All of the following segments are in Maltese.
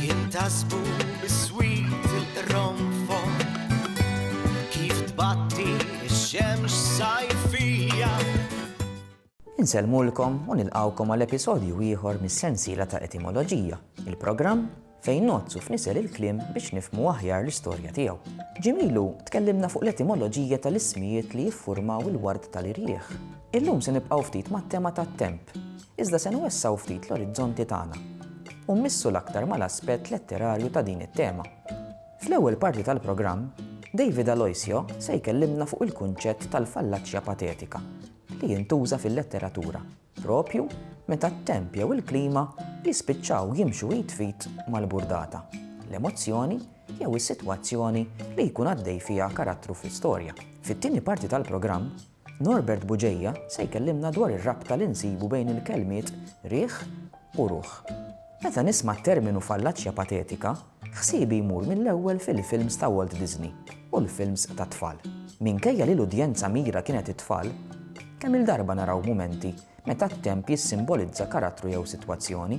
Jintasbu biswit il-qronfon kif tbatti x-xemx sajfija. Insellmulkom u nilqgħukom għal episodju ieħor mis-sensiela ta' Etimoloġija, il-programm fejn nozzu f'nisel il-kliem biex nifmu aħjar l-istorja tiegħu. Ġimilu tkellimna fuq l-etimoloġija tal-ismijiet li jiffurmaw il-ward tal-irjieħ. Illum se nibqgħu ftit mat-tema tat-temp, iżda se nwessgħu ftit l-orizzonti tagħna u mmissu l-aktar mal-aspett letterarju ta' din it-tema. Fl-ewwel parti tal-programm, David Aloisio se jkellimna fuq il-kunċett tal-fallaċja patetika li jintuża fil-letteratura proprju meta t-temp jew il-klima jispiċċaw jimxu id fit mal-burdata, l-emozzjoni jew is-sitwazzjoni li jkun għaddej fiha karattru fl-istorja. Fit-tieni parti tal-programm, Norbert Bugeja se jkellimna dwar ir-rabta li nsibu bejn il-kelmiet riħ u ruħ. Meta nisma' t-terminu fallaċja patetika, ħsiebi jmur mill-ewwel fil-films ta' Walt Disney u l-films tat-tfal. Minkejja li l-udjenza mira kienet it-tfal, kemm-il darba naraw mumenti meta t-temp jissimbolizza karattru jew sitwazzjoni.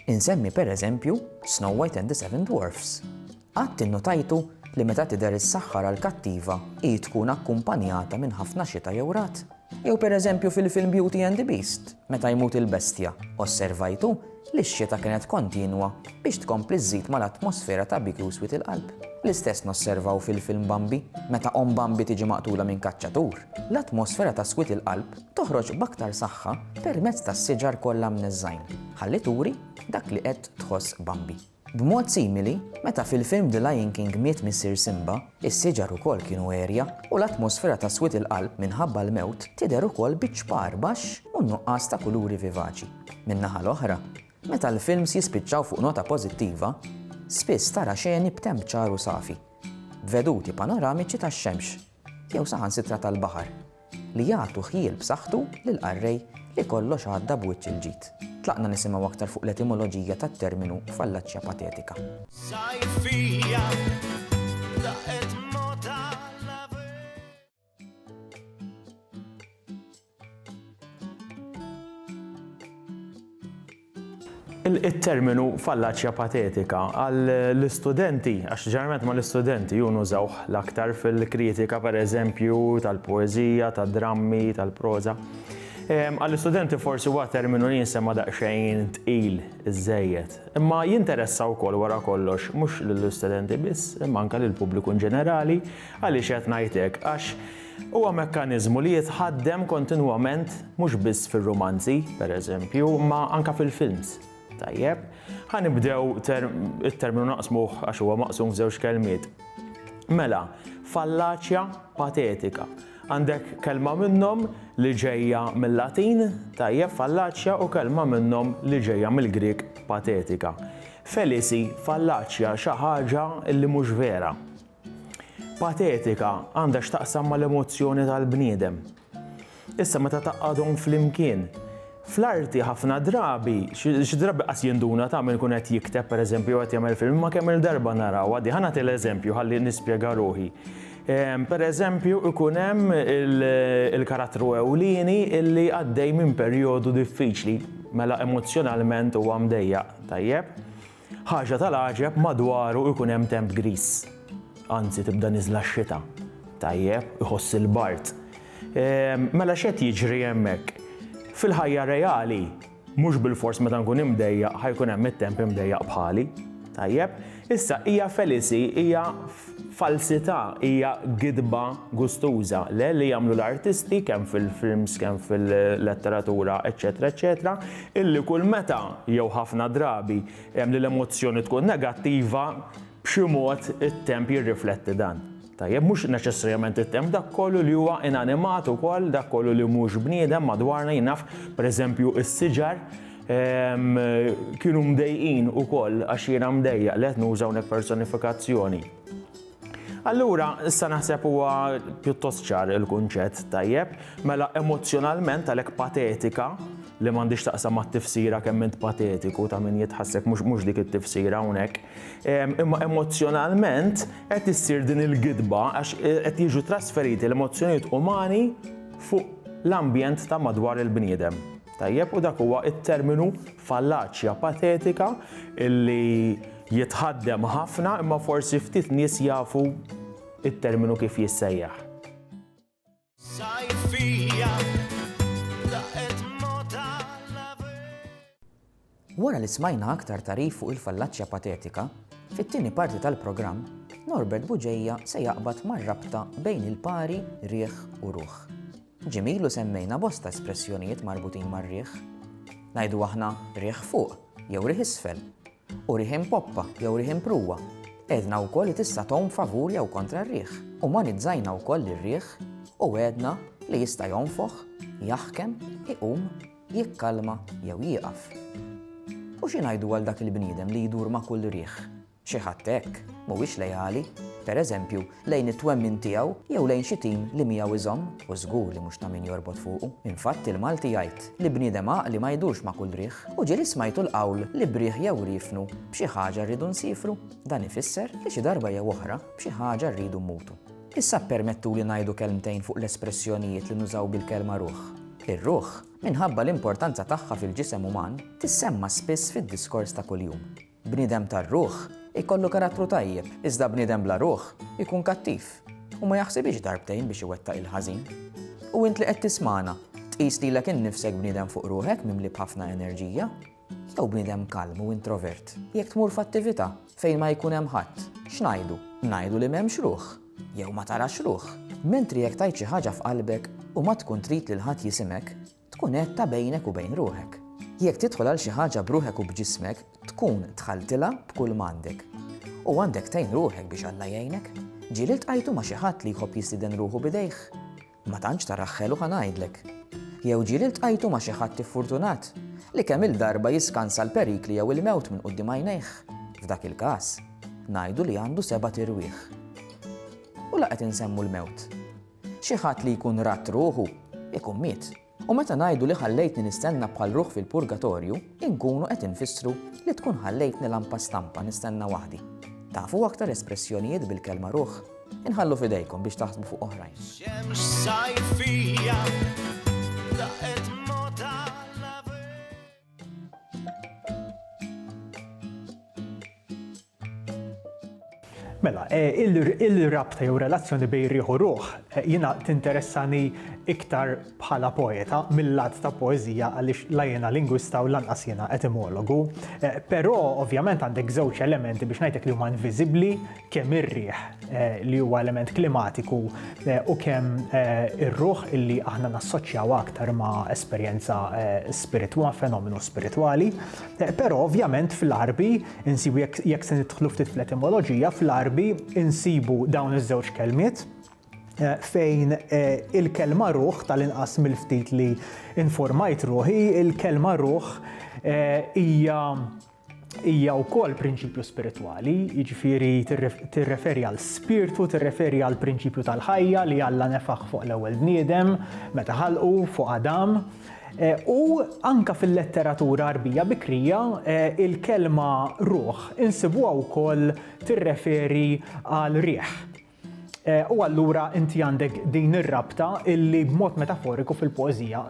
Insemmi pereżempju Snow White and the Seven Dwarfs. Qatt innotajtu li meta tidher is-saħħar għall-kattiva hi tkun akkumpanjata minn ħafna xita jew ragħad? Jew pereżempju fil-film Beauty and the Beast, meta jmut il-bestja, osservajtu li x-xita kienet kontinwa biex tkompli żżid mal-atmosfera ta' bikju swied il-qalb? L-istess nosservaw fil-film Bambi, meta omm Bambi tiġi maqtula minn kaċċatur, l-atmosfera ta' swied il-qalb Toħroġ b'aktar saħħa permezz tas-siġar kollha mneżżgħin, ħalli turi dak li qed tħoss Bambi. B'mod simili, meta fil-film The Lion King miet missier Simba, is-siġar ukoll kienu għerja u l-atmosfera ta' swied il-qalb minħabba l-mewt tidher ukoll biċ-ċpar baxx u n-nuqqas ta' kuluri vivaċi. Min-naħa l-oħra, meta l-films jispiċċaw fuq nota pożittiva, spiss tara xeni b'temp ċar u safi, b'veduti panoramiċi tax-xemx. jew saħansitra tal-baħar, li jagħtu ħjiel b'saħħtu lill-qarrej li kollox għadda b'wiċċ il-ġid. Tlaqna nisimgħu aktar fuq l-etimoloġija tat-terminu fallaċja patetika. Il-terminu fallaċja patetika għall-istudenti, għax ġeneralment ma l-istudenti jun użawh l-aktar fil-kritika per eżempju tal-poezija, tad-drammi, tal-proza. Għall-istudenti forsi huwa terminu li jinsema daqsxejn tqil iżejjed. Imma jinteressa wkoll wara kollox mhux lill-istudenti biss, imma anke lill-pubbliku ġenerali, għaliex qed ngħid hekk għax Huwa mekkaniżmu li jitħaddem kontinwament mhux biss fir-rumanzi, per eżempju, imma anke fil-films. Tajjeb, ħa nibdew it-terminu naqsmuh għax huwa maqsum f'żewġ kelmiet. Mela, fallaċja patetika. Għandek kelma minnhom li ġejja mil-Latin, tajjeb fallaċja u kelma minnhom li ġejja mill-Grieg patetika. Felisi, fallaċja, xi ħaġa li mhux vera. Patetika għandha x'taqsam mal-emozzjoni tal-bniedem. Issa meta taqgħadhom flimkien, fl-arti ħafna drabi, xi drabi qas jinduna ta' min ikun qed jikteb pereżempju jew qed jagħmel film, imma kemm-il darba narawha di. Ħa nagħti l-eżempju ħalli nispjega ruħi. Pereżempju ikun hemm il-karattru ewlieni illi għaddej minn perjodu diffiċli, mela emozzjonalment huwa mdejjaq, tajjeb? Ħaġa tal-għaġeb madwaru jkun hemm temp griż. Anzi tibda niżla x-xita. Tajjeb, iħoss il-bard. Mela x'qed jiġri hemmhekk? Fil-ħajja reali, mhux bilfors meta nkun imdejjaq ħa jkun hemm it-temp imdejjaq bħali. Tajjeb, issa hija Felici hija Falsità hija gidba gustuża, le li jagħmlu l-artisti kemm fil-films, kemm fil-letteratura, eċċetera, eċċetera, illi kull meta, jew ħafna drabi, hemm li l-emozzjoni tkun negattiva, b'xi mod it-temp jirrifletti dan. Tajjeb, mhux neċessarjament it-temp, dak kollu li huwa inanimat ukoll, dak kollu li mhux bniedem madwarna, jien naf, pereżempju, is-siġar, Kienu mdejqin ukoll għax jiena mdejjaq li qed nuża hawnhekk personifikazzjoni. Allura, issa naħseb huwa pjuttost ċar il-kunċett tajjeb, mela emozzjonalment għalhekk patetika li m'għandix taqsam mat-tifsira kemm int patetiku ta' min jitħassek mhux mhux dik it-tifsira hawnhekk. Imma emozzjonalment qed issir din il-gidba għax qed jiġu trasferiti l-emozzjonijiet umani fuq l-ambjent ta' madwar il-bniedem. Tajjeb, u dak huwa t-terminu fallaċja patetika li jitħaddem ħafna imma forsi ftit nies jafu t-terminu kif jissejjaħ. Wara li smajna aktar tagħrif fuq il-fallaċja patetika, fit-tieni parti tal-programm, Norbert Buġeja se jaqbad mar-rabta bejn il-pari, riħ u ruħ. Ġim ilu semmejna bosta espressjonijiet marbutin mar-riħ. Ngħidu aħna riħ fuq jew riħ isfel, u riħ impoppa jew riħ impruwa. Għedna wkoll li tista' tgħum favur jew kontra r-riħ. Umanizzajna wkoll ir-riħ u għedna li jista' jonfoħ, jaħkem, iqum Jikkalma jew jieqaf. U xi ngħidu għal dak il-bniedem li jdur ma' kull riħ? Xi ħadd hekk mhuwiex leali, per eżempju, lejn it-twemmin tiegħu jew lejn xi tim li miegħu iżomm u żgur li mhux ta' min jorbot fuqu. Infatt il-Malti jgħid li bniedem għaqli ma jdurx ma' kull riħ. U ġieli smajtu l-qawl li b'riħ jew riefnu b'xi ħaġa rridu nsiefru. Dan ifisser li xi darba jew oħra b'xi ħaġa rridu mmutu. Issa ppermettuli ngħidu kelmtejn fuq l-espressjonijiet li nużaw bil-kelma ruħ. Ir-ruħ, minħabba l-importanza tagħha fil-ġisem uman, tissemma spiss fid-diskors ta' kuljum. Bniedem tar-ruħ ikollu karattru tajjeb, iżda bniedem bla ruħ ikun kattiv u ma jaħsibhiex darbtejn biex iwettaq il-ħażin. U int li qed tismagħna, tqis lilek innifsek bniedem fuq ruħek mimli b'ħafna enerġija? Jew bniedem kalm u introvert. Jekk tmur f'attività fejn ma jkun hemm ħadd, x'ngħidu? Ngħidu li m'hemmx ruħ jew ma tarax ruħ. Mentri jekk tgħid xi ħaġa f'qalbek u ma tkun trid lil ħadd jisimek, tkun għedtha bejnek u bejn ruħek. Jekk tidħol għal xi ħaġa b'ruħek u b'ġismek, tkun dħaltilha b'kull m'għandek. U għandek tgħin ruħek biex Alla jgħinek. Ġieli ltqajtu ma' xi ħadd li jħobb jistieden ruħu b'idejh? Ma tantx tara ħelu ħa ngħidlek. Jew ġieli ltqajtu ma' xi ħadd iffurtunat li kemm-il darba jiskansa l-perikli jew il-mewt minn quddiem għajnejh, f'dak il-każ, ngħidu li għandu sebat irwieħ. U la qed insemmu l-mewt. Xi ħadd li jkun radd ruħu, ikun miet. U meta ngħidu li ħallejtni nistenna bħal ruħ fil-purgatorju, inkunu qed infissru li tkun ħallejtni lampa stampa nistenna waħdi. Tafu aktar espressjonijiet bil-kelma ruħ? Inħallu f'idejkom biex taħsbu fuq oħrajn. Xemx sajfija daqet mota Mela, e, il-rabta jew relazzjoni bej riħ u ruħ e, jina tinteressani iktar bħala poeta mill-lat ta' poezija għaliex la jena lingwista u lanqas jena etimologu. E, però ovvjament għandek żewġ elementi biex ngħidlek li huma inviżibbli kemm ir-riħ li huwa element klimatiku u kemm ir-ruħ illi aħna nassoċjaw aktar ma' esperjenza spiritwa, fenomenu spiritwali. Però ovvjament fil-arbi Insibu jekk jekk se nidħlu ftit fl-etimoloġija, fl-Għarbi insibu dawn iż-żewġ kelmiet fejn il-kelma ruħ tal-inqas mill-ftit li informajt ruħi, il-kelma ruħ hija hija wkoll prinċipju spiritwali, jiġifieri tirreferi għal spirtu, tirreferi għal prinċipju tal-ħajja li Alla nefaħ fuq l-ewwel bniedem meta ħalqu fuq Adam, U anke fil-letteratura Għarbija bikrija, il-kelma ruħ insibuha wkoll tirreferi għal riħ. U allura inti għandek din ir-rabta illi b'mod metaforiku fil-poeżija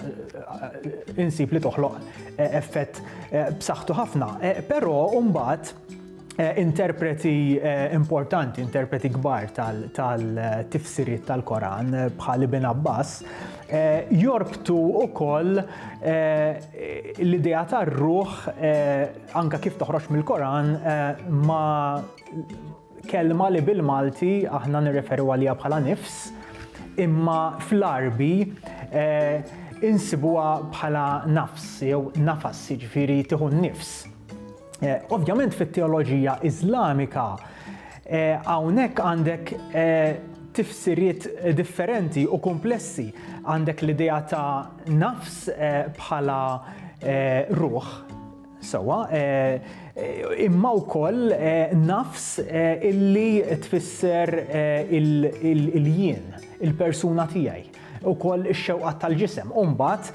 insib li toħloq effett b'saħħtu ħafna. Però mbagħad, interpreti importanti, interpreti kbar tal-tifsiriet tal-Koran bħal Ibn Abbas, jorbtu wkoll l-idea tar-ruħ anka kif toħroġ mill-Koran ma kelma li bil-Malti aħna nirreferu għalija bħala nifs, imma fl-Arbi insibuha bħala nafs jew nafas, jiġifieri tieħu n-nifs. Eh, ovvjament fit-teoloġija Iżlamika eh, hawnhekk għandek eh, tifsiriet differenti u komplessi. Għandek l-idea ta' nafs bħala ruħ, sewa, imma wkoll nafs illi tfisser il-jien, il-persuna tiegħi. ukoll ix-xewqat tal-ġisem. U mbagħad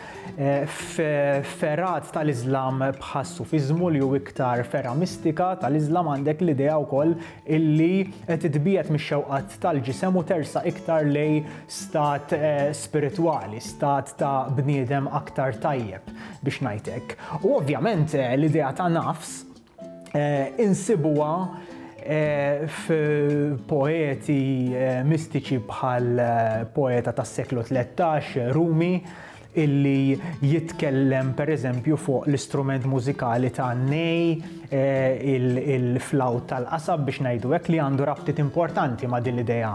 f'fergħat tal-Iżlam bħas-Sufiżmu li hu iktar fergħa mistika tal-Iżlam għandek l-idea wkoll illi titbiegħed mix-xewqat tal-ġisem u tersa iktar lej stat eh, spiritwali, stat ta' bniedem aktar tajjeb biex ngħidlek. U ovvjament eh, l-idea ta' nafs insibuha f'poeti mistiċi bħal poeta tas-seklu 13 Rumi illi jitkellem pereżempju fuq l-istrument mużikali ta' nej il-flawt tal-qasab biex ngħidu hekk li għandu rabtiet importanti ma' din l-idea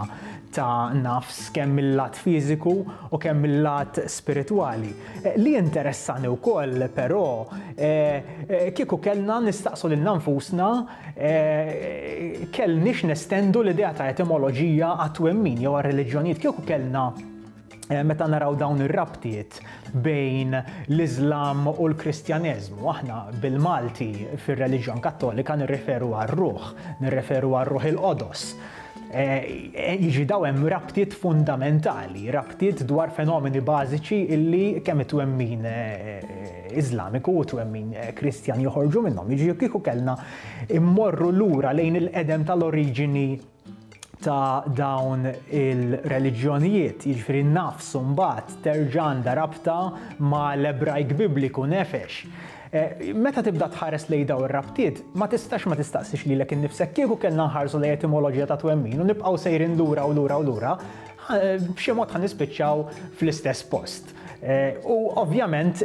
ta' nafs kemm mil-lat fiżiku u kemm mil-lat spiritwali. Li jinteressani wkoll però kieku kellna nistaqsu lilna nfusna kellniex nestendu l-idea ta' etimoloġija għat-twemmin jew għar-reliġjonijiet, kieku kellna meta naraw dawn ir-rabtiet bejn l-Iżlam u l-Kristjaneżmu, aħna bil-Malti fir-reliġjon Kattolika nirreferu għar-ruħ, nirreferu għar-ruħ il-qodos. Jiġi daw hemm rabtiet fundamentali, rabtiet dwar fenomeni bażiċi illi kemm it-twemmin Iżlamiku u twemmin Kristjan joħorġu minnhom. Jiġi kieku kellna immorru lura lejn il-qedem tal-oriġini ta' dawn il-reliġjonijiet, jiġifieri n-nafs mbagħad terġa' għandha rabta ma' l-Ebrajk Bibliku nefesh. Meta tibda tħares lejn dawn ir-rabtiet, ma tistax ma tistaqsix lilek innifsek, kieku kellna nħarsu lejn etimoloġija ta' twemmin u nibqgħu sejrin lura u lura u lura, b'xi mod ħa nispiċċaw fl-istess post. U ovvjament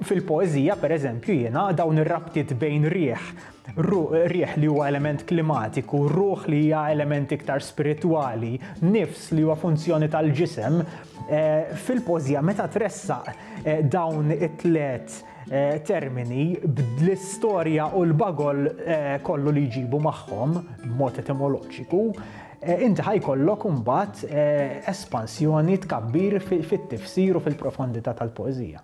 fil-poeżija, pereżempju, jiena dawn ir-rabtiet bejn riħ Ru, riħ li huwa element klimatiku, ruħ li hija element iktar spiritwali, nifs li huwa funzjoni tal-ġisem, eh, fil-pożja meta tressaq eh, dawn it-tlet Eh, termini bl-istorja u l-bagol eh, kollu li jġibu magħhom b'mod etimoloġiku, eh, inti ħajkollok imbagħad espansjoni tkabbir fit-tifsir u fil-profondità tal-poeżija.